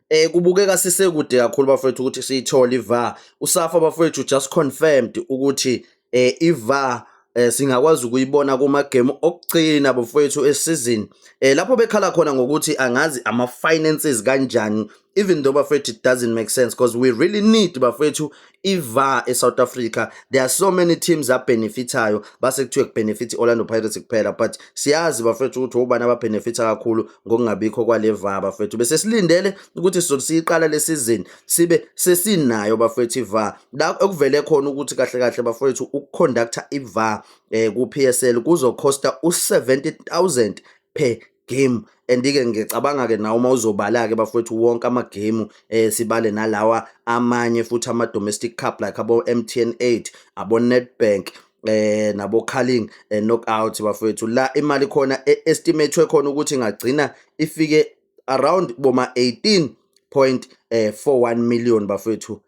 Eh kubukeka sisekude kakhulu bafethu ukuthi siyithole iVAR. USafa bafethu just confirmed ukuthi eh iVAR eh singakwazi ukuyibona kuma game okugcina bafethu esizini. Eh lapho bekhala khona ngokuthi angazi ama finances kanjani even though bafethu it doesn't make sense because we really need bafethu iVAR eSouth Africa there are so many teams abenefithayo base kuthiwe kubenefit Orlando Pirates kuphela but siyazi bafethu ukuthi ubani ababenefitha kakhulu ngokungabikho kwale VAR bafethu bese silindele ukuthi sizoqala le season sibe sesinayo bafethu iVAR la ekuvele khona ukuthi kahle kahle bafethu ukuconductor iVAR eh ku PSL kuzocosta u 70000 per game andike ngicabanga ke nawo uma uzobala ke bafowethu wonke ama game eh sibale nalawa amanye futhi ama domestic cup like abo MTN 8 abo Nedbank eh nabo calling eh, knockout bafowethu la imali khona e, estimate khona ukuthi ingagcina ifike around boma 18.41 eh, million bafowethu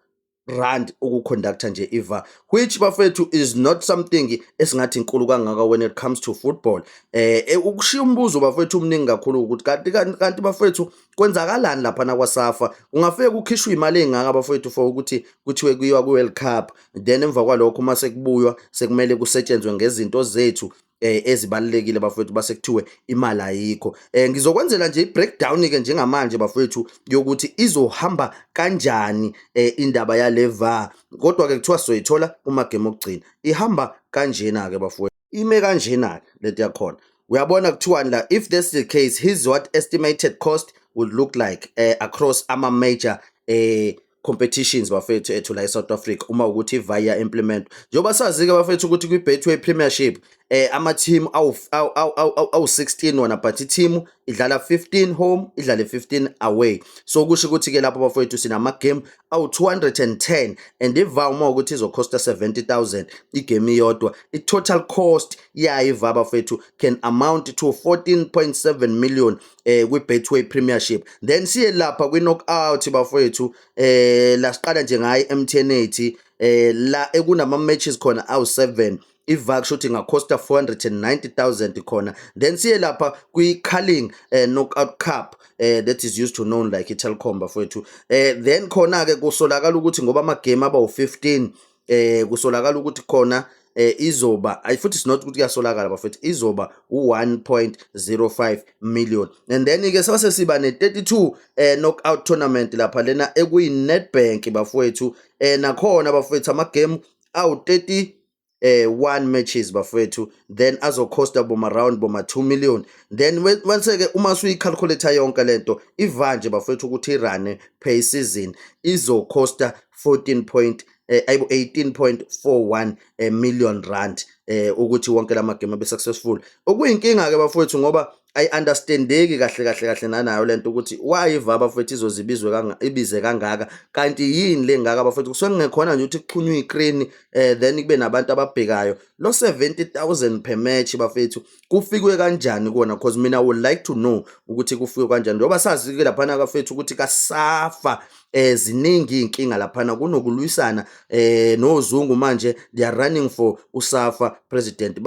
rand ukuconductor nje iva which bafethu is not something esingathi inkulu kangaka when it comes to football eh, eh ukushiya umbuzo bafethu umningi kakhulu ukuthi kanti kanti bafethu kwenzakalani lapha na kwasafa ungafike kukhishwa imali engaka bafethu for ukuthi kuthiwe kuyiwa ku World Cup then emva kwalokho uma sekubuywa sekumele kusetshenzwe ngezinto zethu eh ezibalekile bafowethu base kuthiwe imali ayikho eh ngizokwenzela nje i-breakdown ke njengamanje bafowethu yokuthi izohamba kanjani eh indaba yale VAR kodwa ke kuthiwa soyithola uma game okugcina ihamba kanjena ke bafowethu ime kanjena ke lento yakhona uyabona kuthiwani la if this is the case his what estimated cost would look like eh across ama major eh competitions bafethu ethu la eSouth Africa uma ukuthi via implement njengoba sazi-ke bafethu ukuthi kwi-betway premiership eh ama-team awu-16 wona but i-team idlala 15 home idlale 15 away so kusho ukuthi-ke lapho bafowethu sinama-game awu-210 and iva uma ukuthi izokhosta 70000 igame iyodwa i-total cost yayo iva bafowethu can amount to 14.7 million eh kwiBetway Premiership then siye lapha kwiKnockout bafowethu eh la siqala nje ngayi eMTN8 eh la ekunama matches khona awu7 ivak shuthi ngacosta 490000 khona then siye lapha kwi-carling eh, knockout cup eh, that is used to known like i-telcom bafowethu eh, then khona-ke kusolakala ukuthi ngoba amagame aba wu-15 eh kusolakala ukuthi khona eh izoba ay futhi sinot ukuthi kuyasolakala bafethu izoba u1.05 million and then ke sase siba ne32 eh knockout tournament lapha lena ekuyi Nedbank bafethu eh nakhona bafethu ama game awu 30 eh one matches bafethu then azokhosta boma round boma 2 million then wense ke uma suyicalculator yonke lento ivanje bafethu ukuthi irane pay season izokhosta 14 point eh, ayibo 18.41 eh, million rand eh, ukuthi wonke la magame abe successful okuyinkinga ke bafowethu ngoba ayi-understandeki kahle kahle kahle nanayo le nto ukuthi wayiva abafowethu izozibizwe kanga, ibize kangaka kanti yini le ngaka abafowethu kusuke kungekhona nje ukuthi kuxhunywe ikreni eh, then kube nabantu ababhekayo lo 70 000 per match bafowethu kufikwe kanjani kona because mina would like to know ukuthi kufikwe kanjani njengoba sazi-ke laphana kafethu ukuthi kasafa eh ziningi iy'nkinga laphana kunokulwisana eh nozungu manje they are running for usafa president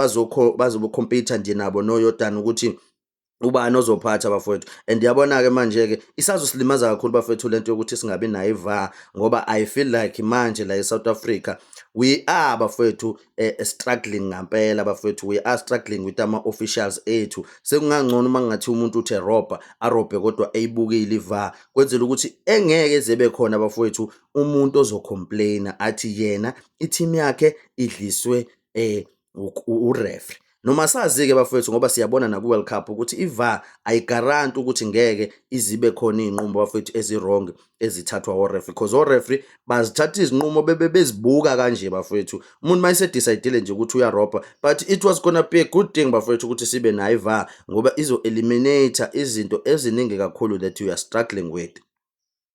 bazobokhompyutha nje nabo noyodani ukuthi ubani ozophatha bafowethu and yabona-ke manje-ke isazosilimaza kakhulu bafowethu lento yokuthi singabi nayo iva ngoba i feel like manje la e-south africa we are bafowethu eh, eh, struggling ngampela bafethu we are struggling with ama officials ethu sekungangcono uma ngathi umuntu uthe robha arobhe kodwa eyibukile iva kwenzela ukuthi engeke zebe khona bafethu umuntu ozocomplaina athi yena i-team yakhe idliswe eh ureferee noma sazi-ke bafowethu ngoba siyabona naku-world cup ukuthi ivar ayigaranti ukuthi ngeke izibe khona iy'nqumo bafowethu ezi-wrong ezithathwa orefri because orefri bazithatha izinqumo bebe bezibuka kanje bafowethu umuntu uma esedicayidile nje ukuthi uyarobha but it was gonna be a good thing bafowethu ukuthi sibe nayo ivar ngoba izo-eliminata izinto eziningi kakhulu that you are struggling with